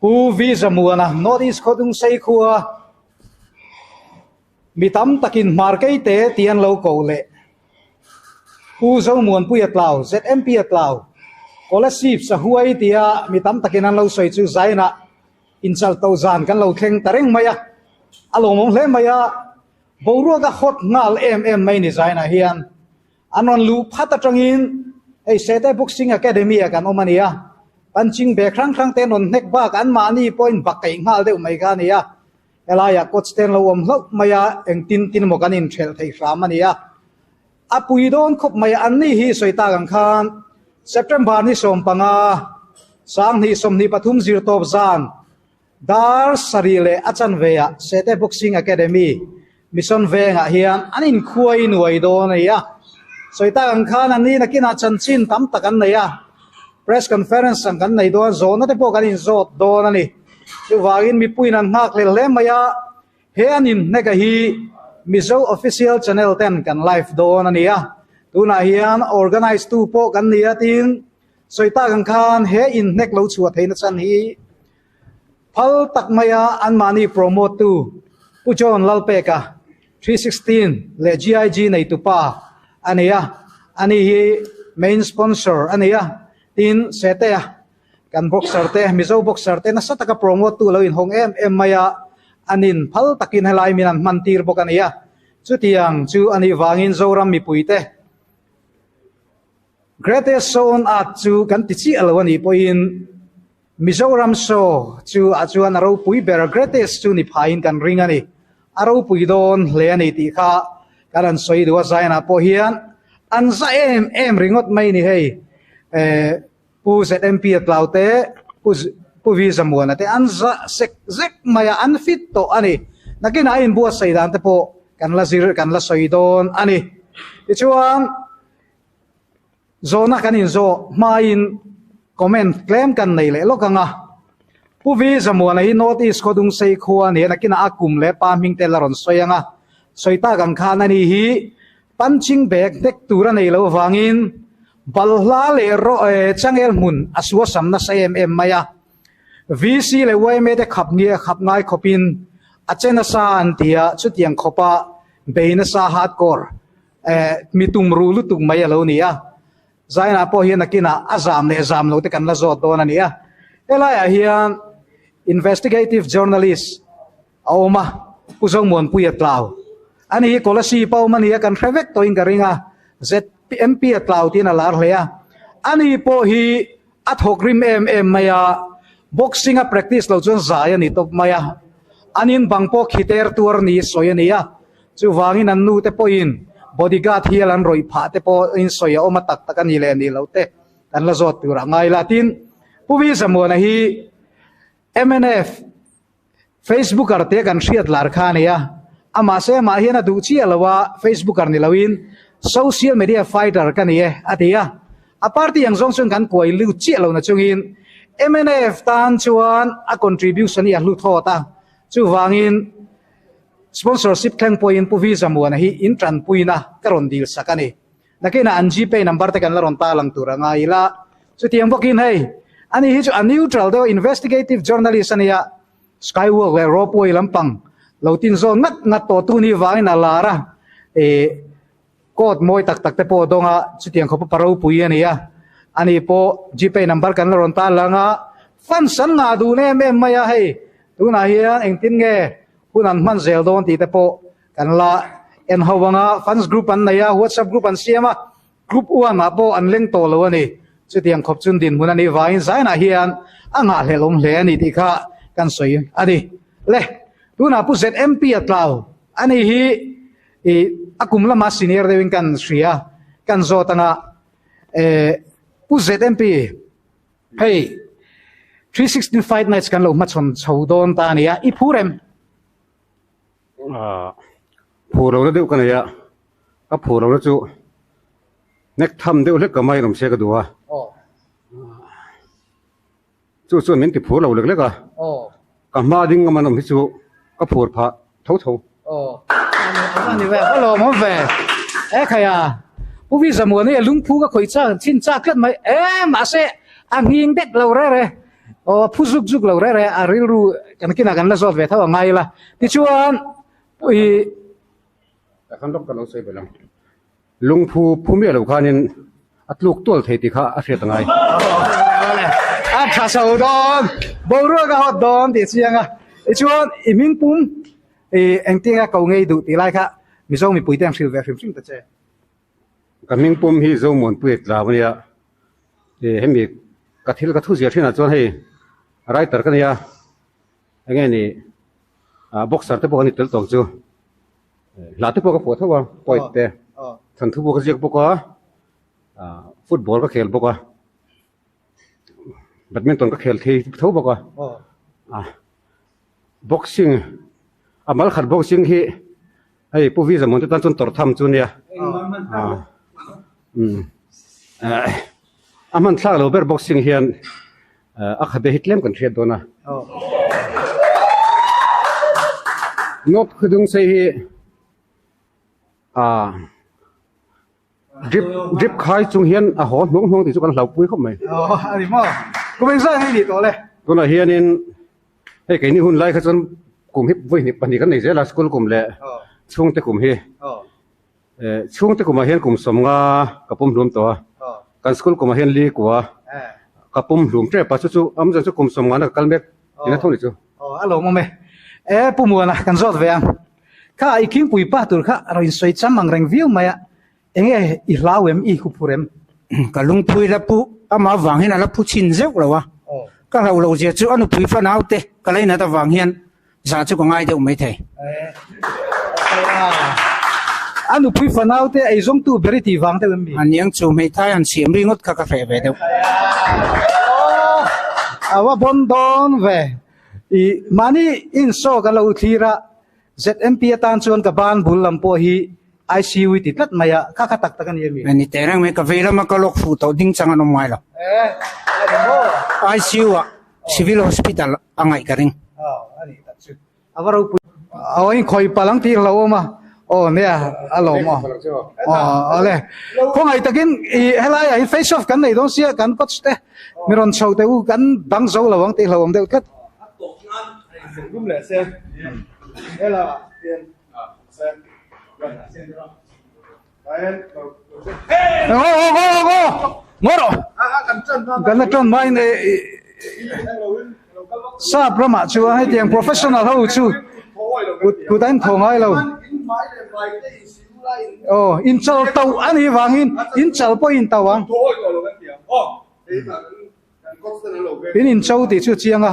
Pu Vizamuana, North East Khawdungsei khua mi tam takin Hmarkei te tih an lo koh leh. Pu Zomuanpuia tlau, ZMP a tlau, Scholarships a huai tia mi tam takin an lo sawi chu zaina inchal tawh zan kan lo thleng ta reng mai a. A lawmawm hle mai a, boruaka hot nghal em em mai ni zainah hian. An rawn luh phat atangin hei Sete Boxing Academy-ah kan awm a nia. Punching bag hrang hrang te an rawn hnek bak a, anmahni pawhin va kaih nghal deuh mai kha a ni a. Helaiah coach te an lo awm hlauh mai a, eng tin tin emaw kan inhrelh thei hram a ni a. A pui dawn khawp mai a, anni hi sawi tak ang khan September ni sawm panga, Sang hnih sawmhnih pathum zir tawp zan, Dar sarih leh a chanveiah Sete Boxing Academy mission vengah hian an inkhuai nuai dawn a ni a, sawi tak ang khan an ni nakinah chanchin tam tak an nei a, press conference ang kan nei dawn a, zawhna te pawh kan inzawt dawn a ni. Chuvangin mipuiin an nghakhlel hle mai a, he an inhneka hi Mizo official channel ten kan live dawn a ni a, tunah hian organise tu pawh kan ni a tin, Sawi tak ang khan he in hnek lo chhuah theih nachan hi phal tak mai a an mahni promote tu Pu John Lalpeka 316 leh GIG nei tu pa a nei a ani hi main sponsor a nei a tin se te a kan boxer te Mizo boxer te nasa taka promote tu lo in hawng em em mai a an in phal takin helai min an hman tir bawk a ni a chutiang chu ani vangin Zoram mipui te Greatest show on earth chu kan ti chiah lo a nih pawhin Mizoram show chu ah chuan a ropui ber greatest chu ni phai in kan ring a ni a ropui dawn hle a ni tih kha kan rawn sawi duh a zain ah pawh hian an za em em ringawt mai ni hei eh Pu ZMP a tlau te Pu Pu Vi Zamuana te an za sek zek mai a an fit tawh a ni nakin a inbuatsaih dan te pawh kan la zir kan la sawi dawn a ni tichuan Zawhna kan in zawh hmain comment tlem kan nei leh lawk anga Pu Vi Zamuana hi North East Khodung Seikhua a ni a nakinah a kum leh pa hming te la rawn sawi anga sawi tak ang khan ani hi punching bag hnek tur a nei lo avangin balhla leh changel hmun a suasam nasa em em mai a VC leh yma te khap nge khap ngai khawpin a che nasa an tia chutiang khawpa bei nasa hardcore Eh, mi tum ru lutuk mai a lo ni a. Zaina pawh hian a kinah a zam leh zam lo te kan la zawt dawn a ni a. Helaiah hian investigative journalist a awm a, Pu Zomuanpuia Tlau. A ni hi Kolasip a awm a ni a, kan hre vek tawhin ka ring a, ZMP-a Tlau tiin a lar hle a. A ni pawh hi, A thawk rim em em mai a, boxing a practice lo chuan zai a ni tawp mai a, an in bang pawh khiter tuar ni sawi a ni a, chuvangin an nu te pawhin body guard hial an rawih phah te pawh in sawi a awm a tak tak a ni leh ni lo te kan la zawt tur ah ngai la tin Pu Vizamuana hi MNF Facebooker te kan hriat lar kha a nia. A mahse mah hian a duh chiah lo a, Facebooker ni loin Social Media Fighter ka ni e a ti a. A party ang zawng chuan kan kuai lut chiah lo na chungin mnf tan chuan a contribution hi a hlu thawt a. Chuvangin Sponsorship thleng pawhin Pu Vizamuana hi in tanpuina ka rawn dil sak a ni. Nakinah an GPay number te kan la rawn tar lang tur a ngai ila, chutiang bawkin hei ani hi chu a neutral deuh a investigative journalist ania Skywalk leh Ropeway lampang lo tinzawn ngat ngat tawh tu ni vangin a lar a, eh court mawi tak tak te pawh dawng a chutiang khaw pawh pa ropui ania ani pawh GPay number kan la rawn tar lang a fans an ngah dun em em mai a hei tunah hian engtin nge hun an hman zel dawn tih te pawh Kan la en ho vanga fans group an nei a, whatsapp group an siam a, group uan ah pawh an leng tawh lo a ni. Chutiang khawp chun dinhmun a nih vangin zainah hian a ngahhlel awm hle a ni tih kha kan sawi a ni. Le tunah pu ZMP a tlau a nih hi i a kum lama senior deuhin kan hria, kan zawt anga eh pu ZMP hei three sixteen fight nights kan lo hmachhawn chho dawn ta a nia, i phu rem. ah phu lohna deuh ka nei a ka phu lohna chu hnek tham deuh hlek ka mai a rawn se ka duh a chu chuan min ti phur lo lek lek a ka hma ding lam anawm hi chu ka phur phah tho tho pu visamuani lungphu ka khawih chhin chak tlat mai em mahse a nghing dek lo rere. Aw a phu zuk zuk lo reh reh a rilru kan kinah kan la zawt ve tho anga ila tichuan i takhan doctor lo sawi belh ang lungphu phu miah lo khanin a tluk tual thei ti kha a hriat angai a tha chho dawn boruak a hawt dawn tih chianga tichuan i hming pum i engtinga ko ngei duh tih lai kha mizo mipuite an hril ve hrim hrim ta che Ka hming pawm hi Zomuanpuia tlau a nia. Ih hemi ka thil ka thuziah thinah chuan hei writer ka nia. Eng nge ni ah boxer te pawh ka ni tel tawng chu. Hla te pawh ka fuah tho a, poet te. Thanthu pawh ka ziak bawk a, football ka khel bawk a. badminton ka khel thei tho bawk a a boxing a mal khat boxing hi hei pu vizamun te tan chuan tawrh tham chu a nia a umm eh a hman thlak lo ber boxing hian eh a khabe hi tlem kan hriat dawn a note khawdungse hi a. Drip drip khai chung hian a haw hnuang hnuang tih chu kan hlauhpui khawp mai. Aww a ni maw? Kum eng zat hi ni tawh le. Tunah hianin hei keini hun lai kha chuan kum hi vawihnip pahnih kan nei zel a, school kum leh chhungte kum hi. Chhungte kumah hian kum sawmnga ka pawm hlum tawh a, kan school kumah hian li kua ka pawm hlum tep a, chu chu awmze chu kum sawmngana ka kal mek tina thawk ni chu. Aww a lawm awm e. Ee Pu Muana kan zawt ve ang. Kha i khingpui pah tur kha raw insawi cham ang reng viau mai a, enge i hlau em i huphur em? Ka lungpui la pu, amah vang hian a la pu chhin zeuh lo a, ka hlau lo zia chu a nupui fanau te ka lei nat avang hian zah chu ka ngai deuh mai thei. A nupui fanau te ei zawng tu ber i ti vang deuh em ni? A niang chu hmeithai han siam ringawt kha ka hreh ve deuh. Aww, a va bawn dawn ve. I mahni in show ka lo thlir a, ZMP atan chuan ka ban bul lam pawh hi ICU i ti tlat mai a, kha kha tak tak a ni a mi. Ni teh reng mai, ka vei lama ka lawk hruh tawh ding chang an awm ngai lo. ICU ah Civil Hospital a ngaih ka ring. A va ropui. Aw, inkhawi pal ang tih ka lo awm a. Aw nia a lawm aw aw ale khawngaih takin i helaiah hin face off kan nei dawn sia kan coach te mi rawn chho te u kan dang zo lo ang tih hlauhawm deuh tlat Ngawhrawh! Ganna tawn mah in i. Sap ramah chuan heti ang professional ho chu kut kut a in thaw ngai lo. Aw in chal tauh a nih vangin in chal pawh i in tauh ang. In in cho tih chu a chiang a.